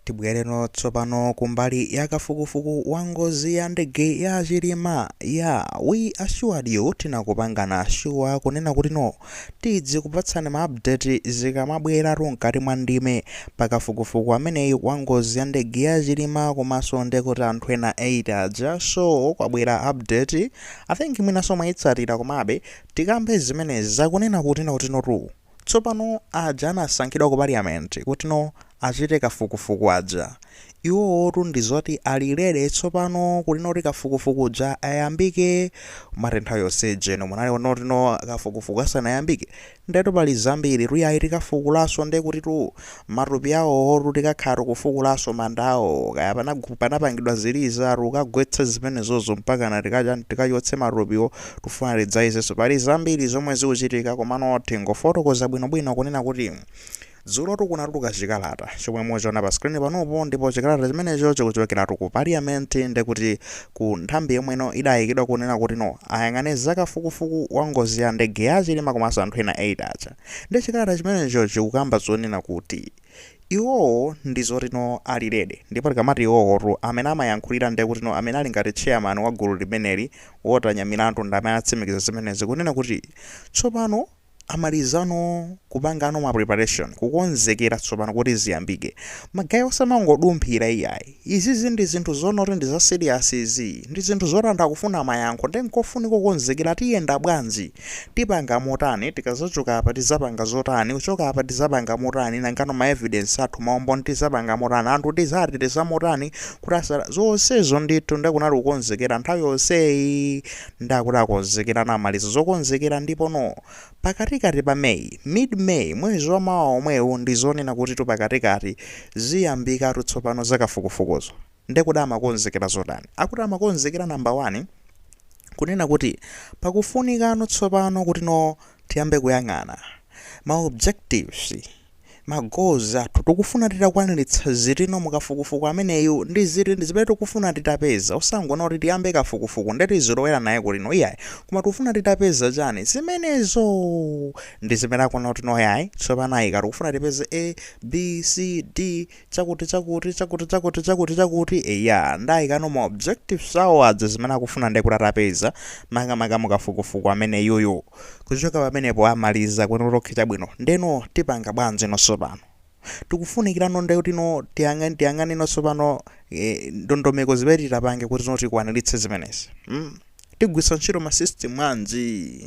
Tibwereno tsopano kumbali ya kafukufuku wa ngozi ya ndege ya Chilima ya we assured you tinakupangana sure kunena kuti no tidzikupatsani ma update zikamabweratu mkati mwa ndime pa kafukufuku ameneyi wa ngozi ya ndege ya Chilima komanso ndekuti anthu ena 8 aja so kwabwera update I think mwinaso mwayitsatira komabe tikambe zimenezi zakunena kuti no kutinotu Tsopano, aja anasankhidwa ku Parliament kutino achite kafukufuku aja, iwowotu ndi zoti ali ready tsopano kutino kuti kafukufuku uja ayambike, mumati nthawi yonseija inu munali munati no kafukufuku asanayambike? Ndetu pali zambiritu yayi tikafukulanso ndekutitu Matupi awowotu tikakhala tikufukulanso mandawo kaya panagu panapangidwa ziliza tikagwetse zimenezozo mpakana tikachani tikachotse matupiwo tufuna tidzayezenso pali zambiri zomwe zikuchitika komano tingofotokoza bwinobwino kunena kuti Dzulotu kunatuluka chikalata chomwe muchiona pa screen panupo ndipo chikalata chimenecho chikuchokeratu ku parliament ndekuti ku nthambi yomweno idayikidwa kunena kuti no ayang'ane zakafukufuku wa ngozi ya ndege ya chilima komanso anthu ena 8 aja Ndi chikalata chimenecho chikukamba zonena kuti iwowo ndizoti no ali ready ndipo tikamati iwowotu amene amayankhulira ndekuti no amene ali ngati chairman wa gulu limeneli Walter Nyamilandu ndamene atsimikiza zimenezi kunena kuti tsopano amalizano kupangano ma preparation kukonzekera tsopano kuti ziyambike magaye osamangodumphira iyayi Izizi ndi zinthu zonena kuti ndi za serious izi, ndi zinthu zoti anthu akufuna mayankho nde nkofunika kukonzekera tiyenda bwanji, tipanga motani, tikazachoka apa tizapanga zotani, kuchoka apa tizapanga motani, nangano ma evidence athu, ma umboni tizapanga motani, anthu tizawateteza motani kuti asa. zonsezo ndithu nde kunali kukonzekera, nthawi yonseyi nde akuti akonzekera anamaliza zokonzekera ndipono Pakatikati pa May, mid-May, mwezi wa mawa omwewu ndi zonena kutitu pakatikati ziyambikatu tsopano za kafukufukuzo. Nde kodi amakonzekera zotani? Akuti amakonzekera number one kunena kuti pakufunikano tsopano kutino tiyambe kuyang'ana ma objectives, ma goals athu tikufuna titakwaniritsa zitino mukafukufuku ameneyu ndi ziti ndi zimene tikufuna titapeza osangonena kuti tiyambe kafukufuku nde tizolowera naye kutino iyayi koma tikufuna titapeza chani zimenezo ndi zimene akunena kuti no yayi tsopano ayika tikufuna tipeze a b c d chakuti chakuti chakuti chakuti chakuti chakuti eya nde ayikano ma objectives awo aja zimene akufuna ndiye kuti atapeza makamaka mukafukufuku ameneyuyu kuchoka pamenepo amaliza kuti no okay chabwino ndeno tipanga bwanji no tsopano tikufunikirano ndekuti no tiyang'ane tiyang'ane no tsopano eh, ndondomeko zimene titapange kuti no tikwaniritse zimenezi mm? Tigwiritsa ntchito ma system anji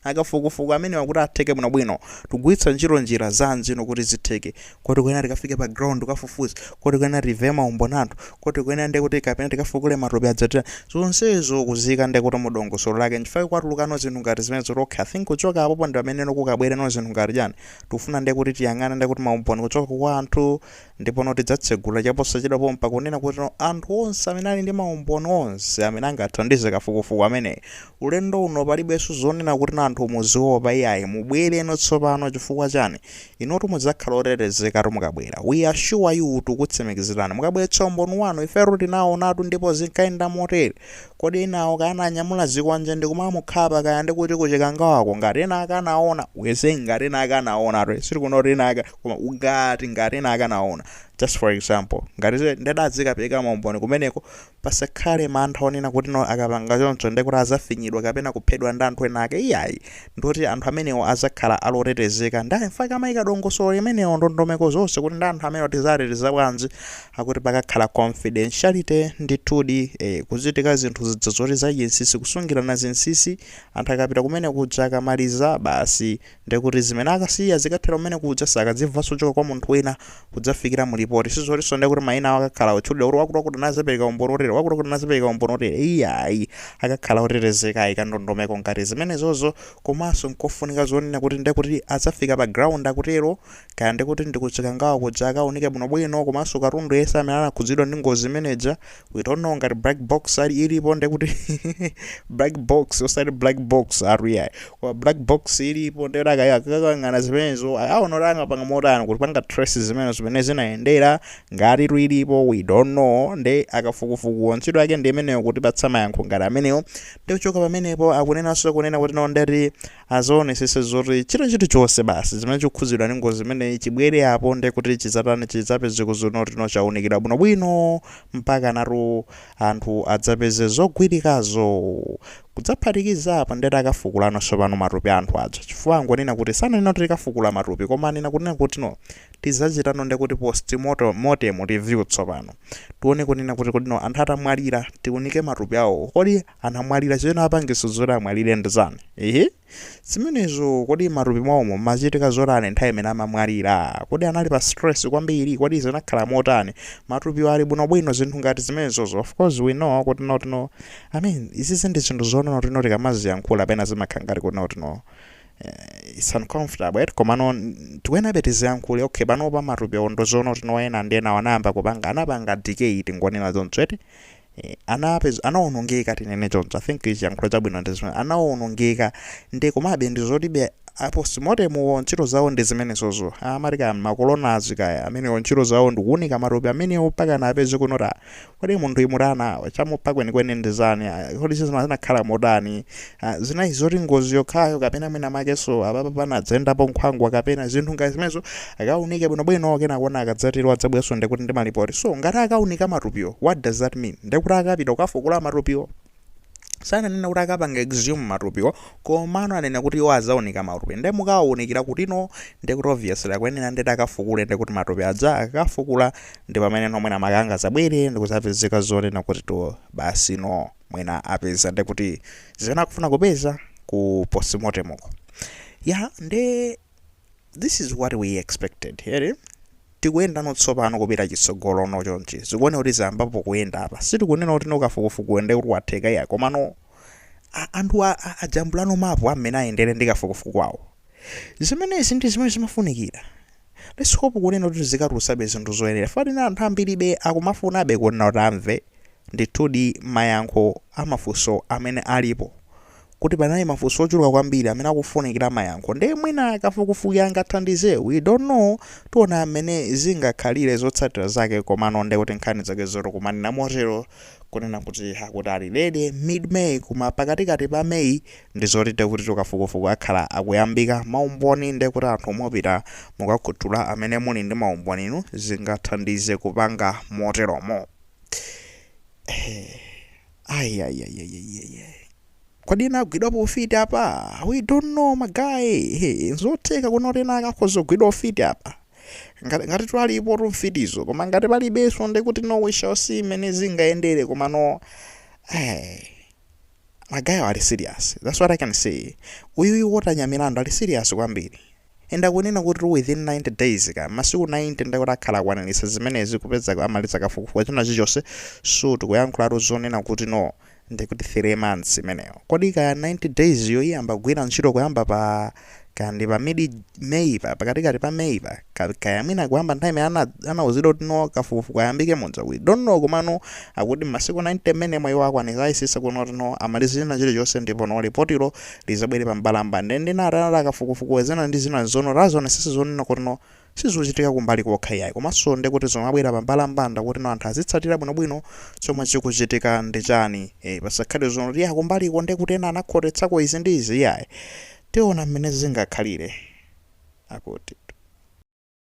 akafukufuku amenewa kuti atheke bwinobwino? Tikugwiritsa ntchito njira zanji ino kuti zitheke? Kodi tikuyenera tikafike pa ground kukafufuza? Kodi tikuyenera timve maumboni a anthu? Kodi tikuyenera ndiye kuti kapena tikafukule matupi aja tita zonsezo kuziyika ndiye kuti mu dongosolo lake nchifukwa kwatulukano zinthu ngati zimenezo kuti okay, I think kuchoka apopo ndi pamene no kukabwereno zinthu ngati chani tikufuna ndiye kuti tiyang'ane ndiye kuti maumboni kuchoka kwa anthu Ndipono tidzatsegula chaposachedwa pompa, kunena kuti no, anthu onse amene ali ndi maumboni onse amene angathandize kafukufuku ameneyu. Ulendo uno palibenso zonena kuti no anthu muziopa iyayi, mubwereno tsopano. Chifukwa chani? Inutu mudzakhala otetezekatu mukabwera. We assure you, tukutsimikizirani, mukabweretsa umboni wanu, ifetu tinaonatu ndipo zinkayenda motere. Kodi enawo kaya ananyamula zikwanje ndikumamukhapa kaya ndikuti ku Chikangawako? Ngati ena ake anaona, we say ngati ena ake anaonatu, sitikunena kuti ena ake. koma ngati ngati ena ake anaona just for example ngati ze- adadzikapereka maumboni kumeneko pasakhale mantha onena kuti no akapanga choncho ndiye kuti azafinyidwa kapena kuphedwa ndi anthu ena ake iyayi ndoti anthu amenewo azakhala ali otetezeka ndi in fact akayika dongosolo limenewo ndondomeko zonse kuti ndi anthu amenewo tizateteza bwanji akuti pakakhala confidentiality ndithudi eh, kuzitika zinthu zidza zoti zachinsisi kusungirana zinsisi anthu akapita kumene kuja akamaliza basi Ndiye kuti zimene akasiya zikathera kumene kuja sakazimvanso kuchoka kwa munthu wina kudzafikira mu lipoti. Si zotinso ndiye kuti mayina awo akakhala otchulidwa kuti wakutiwakuti anazapereka umboni wotere, wakutiwakuti anazapereka umboni wotere. Iyayi, akakhala otetezeka ayika ndondomeko ngati zimenezozo komanso n'kofunika zonena kuti ndiye kuti adzafika pa ground akutero Kaya ndikuti ndi ku Chikangawa kuja akaunike bwinobwino komanso katundu yense amene anakhudzidwa ndi ngozi imene ija. We don't know ngati black box ali ilipo ndekuti black box osati black box ayi iyayi. Koma black box ilipo ndekuti akaya akayang'ana zimenezo akaona kuti angapange motani kupanga trace za mmene za mmene zinayendera ngati tu ilipo we don't know nde akafukufukuwo ntchito yake ndi imeneyo kutipatsa mayankho ngati amenewo. Ndikuchoka pamenepo akunenanso kunena kuti no ndeti azaonesese zoti chinthu chonse basi zimene chikukhudzidwa ndi ngozi imeneyi chibwere apo nde kuti chidzatani chidzapeze kuzonoti no chaunikidwa bwinobwino mpakana tu anthu adzapeze zogwirikazo kudzaphatikiza apa ndeti akafukulano tsopano matupi a anthu aja chifukwa angonena kuti sananena kuti tikafukula matupi koma anena kunena kuti no tidzachitano nde kuti postmortem mortem review tsopano tione kunena kuti kodi no anthu atamwalira tiunike matupi awo kodi anamwalira chimene chinapangitsa zoti amwalire ndi chani ehe zimenezo kodi matupi mwawomo mmachitika zotani nthawi imene amamwalira kodi anali pa stress kwambiri kodi zinakhala motani matupiwo ali bwinobwino zinthu ngati zimenezozo of course we know kuti no i mean izizi ndi zinthu zonoti no tikamaziyankhula pena zimakhala ngati kuti no eh, it's uncomfortable right? komano n- tikuyenabe tiziyankhule okay panopa matupi awo ndi zoona kuti no ena ndi ena anayamba kupanga anapanga decay tingonena zonse eti Eh, anapeza anawonongeka tinene choncho i think chiyankhulo chabwino ndi zimene anawonongeka nde komabe ndi zolibe a postmortem-wo ntchito zawo ndi zimenezozo amati kaya ma coroners kaya amenewo ntchito zawo ndi kuunika matupi amenewo mpakana apeze kunena kuti kodi munthuyi mutana chamupha kwenikweni ndi chani Ah, kodi zizina zinakhala motani Ah, zinali zoti ngozi yokhayo kapena mwina makenso apapa panadzayendapo nkhwangwa kapena zinthu ngati zimenezo akaunike bwinobwino kenako no akadzatero adzabwerenso ndikuti ndi malipoti so ngati akaunika matupiwo what does that mean ndikuti akapita kukafukula matupiwo sananena kuti akapanga exhume matupiwo komano anena kuti iwo azaunika matupi nde mukawaunikira kuti no ndikuti obviously akuyenera nde kuti akafukule ndikuti matupi aja akafukula ndi pamene no mwina makanga zabwere ndikuzapezeka zonena kuti to basi no mwina apeza nde kuti zimene akufuna kupeza ku postmortem uko ya nde this is what we expected here tikuyendano tsopano kupita chitsogolo no chonchi zikuoneka kuti zayambapo kuyenda apa sitikunena kuti no kafukufukuyu nde kuti watheka iyayi komano a- anthu a- a- ajambula no mapu a mmene ayendere ndi kafukufuku wawo Zimenezi ndi zimene zimafunikira. Let's hope kunena kuti izikatulutsabe zinthu zoyenera. Chifukwa kuti ine anthu ambiribe akumafunabe kunena kuti amve ndithudi mayankho a mafunso amene alipo. Poti panali mafunso ochuluka kwambiri amene akufunikira mayankho. Ndiye mwina kafukufuku angathandize. We don't know. Tiona mmene zingakhalire zotsatira zake komano ndiye kuti nkhani zake zikumanena motero kunena kuti akuti ali ready mid May koma pakatikati pa May ndizoti nde kuti kafukufuku akhala akuyambika maumboni nde kuti anthu mupita mukakhuthula amene muli ndi maumboni inu zingathandize kupanga moteromo ayayayayayay kodi ena agwidwapo ufiti apa we don't know ma guy nzotheka kunena kuti ena akakhoza kugwidwa ufiti apa ngati, ngati twalipo tumfitizo koma ngati palibenso ndekuti no we shall see mmene zingayendere komano hey. Ma guy-wa ali serious. That's what I can say. Uyuyu Walter Nyamilandu ali serious kwambiri. And akunena kuti within 90 days kaya masiku 90 nde akuti akhala akwaniritsa zimenezi kupeza amaliza kafukufuku china chilichonse so tikuyankhulatu zonena kuti no ndikuti 3 months imeneyo. Kodi kaya 90 days yo iyamba kugwira ntchito kuyamba pa kaya ndi pa mid May-pa pakatikati pa May-pa ka- kaya mwina kuyamba nthawi imene ana- anauzidwa kuti no kafukufuku ayambike muja we don't know komano akuti masiku 90 mmenemo iwo akwanitsa ayesetsa kunena kuti no amalize china chilichonse ndipo no lipotilo lizabwere pa mbalambanda ndi natana a kafukufukuwa zina ndi zina zono azaonetsetsa zonena kuti no sizichitika kumbali kokha iyayi komanso ndekuti zumabwera pa mbalambanda kuti no anthu azitsatira bwinobwino chomwe chikuchitika ndi chani e, pasakhale zonena kuti ya kumbaliko ndekuti ena anakhotetsako izi ndi izi iyayi tiona mmene zingakhalire akuti